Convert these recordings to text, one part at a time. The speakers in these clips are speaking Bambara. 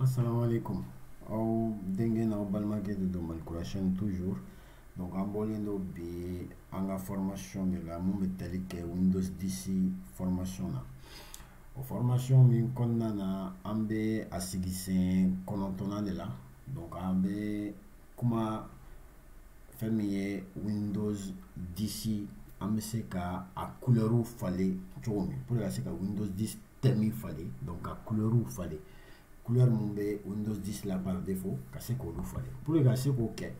assalamu alaikum aw denkɛ n'aw balimakɛ de don malikura chaîne toujours donc an bɔlen don bi an ka formation de la mun bɛ tali kɛ windows 10 formation na o formation min kɔnɔna na an bɛ a sigi sen kɔnɔntɔnnan de la donc an bɛ kuma fɛn min ye windows 10 an bɛ se ka a kulɛriw falen cogo min pour i ka se ka windows 10 thème falen donc ka kulɛriw falen kulɛri minnu bɛ windows 10 la par défaut ka se k'olu falen pour i ka se k'o kɛ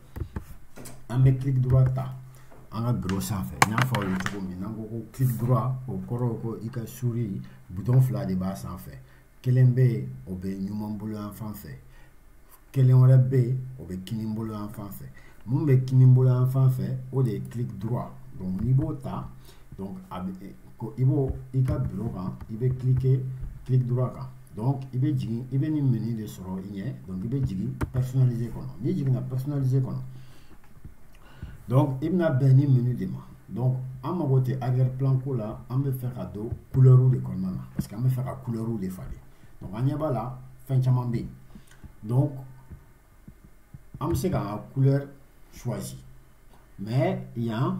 an bɛ clic droit ta an ka biro sanfɛ n y'a fɔ aw ye cogo min n'an ko ko clic droit o kɔrɔ ko i ka suri butɔn fila de b'a sanfɛ kelen bɛ yen o bɛ numan bolo yan fan fɛ kelen wɛrɛ bɛ yen o bɛ kinin bolo yan fan fɛ mun bɛ kinin bolo yan fan fɛ o de ye clic droit donc n'i b'o ta donc a bɛ ko i b'o i ka biro kan i bɛ cliquer clic droit kan donc i bɛ jigin i bɛ nin menu de sɔrɔ i ɲɛ donc i bɛ jigin personnaliser kɔnɔ n'i jiginna personnaliser kɔnɔ donc i bɛna bɛn nin menu de ma donc an mago tɛ arrière plan ko la an bɛ fɛ ka don couleur de kɔnɔna na parce que an bɛ fɛ ka couleur de falen donc an ɲɛ b'a la fɛn caman bɛ yen donc an bɛ se k'an ka couleur choisi mais yan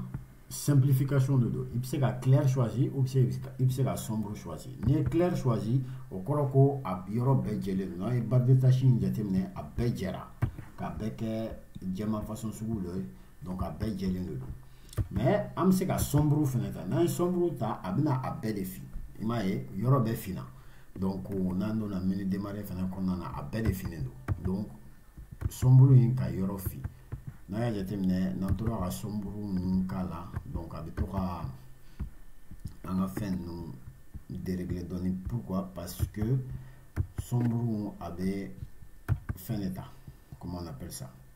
simplification de don i bɛ se ka clair choisi ou i bɛ se ka sombre choisi n'i ye clair choisi o kɔrɔ ko a yɔrɔ bɛɛ jɛlen don n'an ye barre de tâche in jateminɛ a bɛɛ jɛra k'a bɛɛ kɛ jɛman façon sugu dɔ ye donc a bɛɛ jɛlen de don mais an bɛ se ka sombre fana ta n'an ye sombre ta a bɛna a bɛɛ de fin i m'a ye yɔrɔ bɛɛ finna donc n'an donna menu démarrer fana kɔnɔna na a bɛɛ de finnen don donc sombre in ka yɔrɔ fin n'an y'a jateminɛ n'an tora ka sombre ninnu k'a la donc a bɛ to ka an ka fɛn ninnu dérégler dɔɔnin pourquoi parce que sombre a bɛ fɛn de ta comment on appelle ça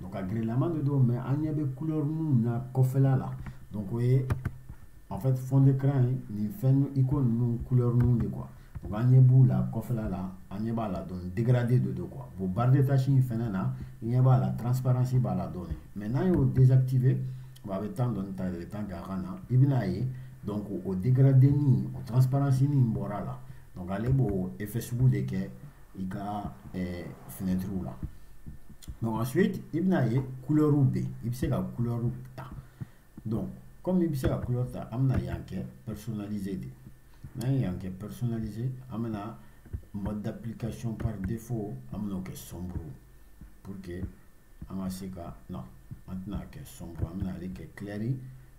donc a girilama de don mais an ɲɛ bɛ couleur minnu na kɔfɛla la donc o ye en fait fond d'écran ye nin fɛn icône ninnu couleur ninnu de quoi donc an ɲɛ b'u la kɔfɛla la an ɲɛ b'a la dɔɔni dégradé de don quoi bon barre de tâche in fɛnɛ na i ɲɛ b'a la transparence b'a la dɔɔni mais n'an y'o désactiver bon a bɛ temps dɔɔni ta de bɛ temps kɛ a ka na i bɛna ye donc o dégradé ni o transparence nin bɔra a la donc ale b'o effet sugu de kɛ i ka fenɛtiriw la donc ensuite i bɛna ye kulɛriw bɛ yen i bɛ se ka kulɛriw ta donc comme i bɛ se ka kulɛri ta an bɛna yan kɛ personnalisé de n'an ye yan kɛ personnalisé an bɛna mode d'application par défaut an bɛna o kɛ sombre pour que an ka se ka non an tɛna kɛ sombre an bɛna ale kɛ clair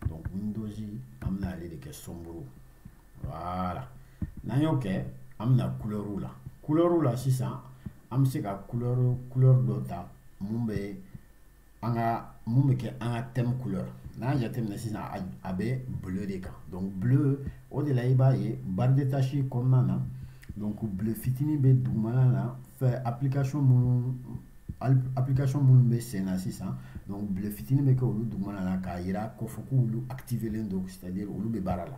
donc windows an bɛna ale de kɛ sombre voilà n'an y'o kɛ an bɛna kulɛriw la kulɛriw la sisan an bɛ se ka couleur couleur dɔ ta mun bɛ an ka mun bɛ kɛ an ka thème couleur n'a y'a jateminɛ sisan a bɛ bleu de kan donc bleu o de la i b'a ye barre de tâche kɔnɔna na donc bleu fitinin bɛ dugumana na fɛ application minnu application minnu bɛ sen na sisan donc bleu fitinin bɛ kɛ olu dugumana na k'a jira k'a fɔ k'olu activélen don c'est à dire olu bɛ baara la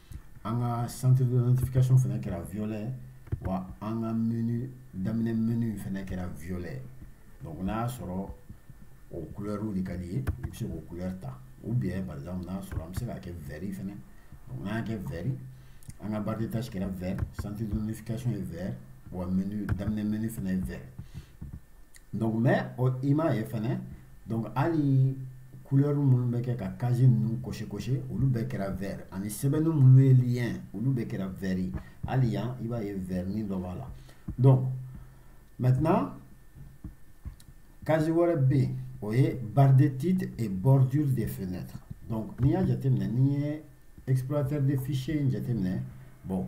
an ka centre de notification fana kɛra violet wa an ka menu daminɛ menu fana kɛra violet donc n'a y'a sɔrɔ o couleur de ka di i ye i bɛ se k'o couleur ta ou bien par exemple n'a y'a sɔrɔ an bɛ se k'a kɛ vert fana donc n'an y'a kɛ vert an ka barre de tâche kɛra vert centre de notification ye vert wa menu daminɛ menu fana ye vert donc mais i m'a ye fɛnɛ donc hali couleur minnu bɛ kɛ ka case ninnu cocher cocher olu bɛɛ kɛra vert ani sɛbɛnni minnu ye lien olu bɛɛ kɛra vert ye hali yan i b'a ye vertnin dɔ b'a la donc maintenant case wɛrɛ bɛ yen o ye barre de titre et bordure des fenêtres donc n'i y'a jateminɛ n'i ye explorateur de fichier in jateminɛ bon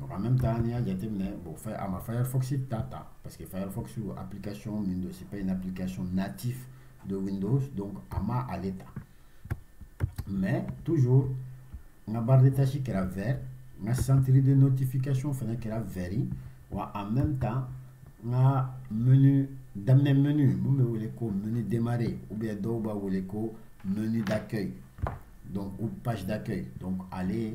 Donc en même temps, n'i y'a jateminɛ bon a ma Firefox ta ta parce que Firefox application min don c'est pas une application native de Windows donc a ma ale ta mais toujours n ka barre de tâche kɛra vert n ka centre de notification fana kɛra vert ye wa en même temps n ka menu daminɛ menu mun bɛ wele ko menu démarrer ou bien dɔw b'a wele ko menu d'accueil donc ou page d'accueil donc ale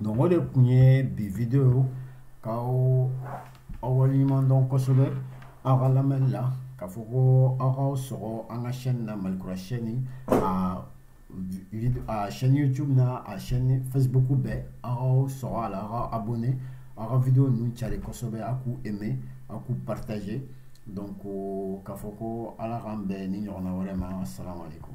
donc o de kun ye bi video k'aw waleɲuman dɔn kosɛbɛ aw ka lamɛnni la k'a fɔ ko aw k'aw sɔgɔ an ka chaîne na malikura chaîne a a chaîne youtube na a chaîne facebook bɛɛ aw k'aw sɔgɔ a la aw ka abonner aw ka video ninnu cari kosɛbɛ aw k'u aimer aw k'u partager donc k'a fɔ ko ala k'an bɛn ni ɲɔgɔnna wɛrɛ ma asalamu aleykum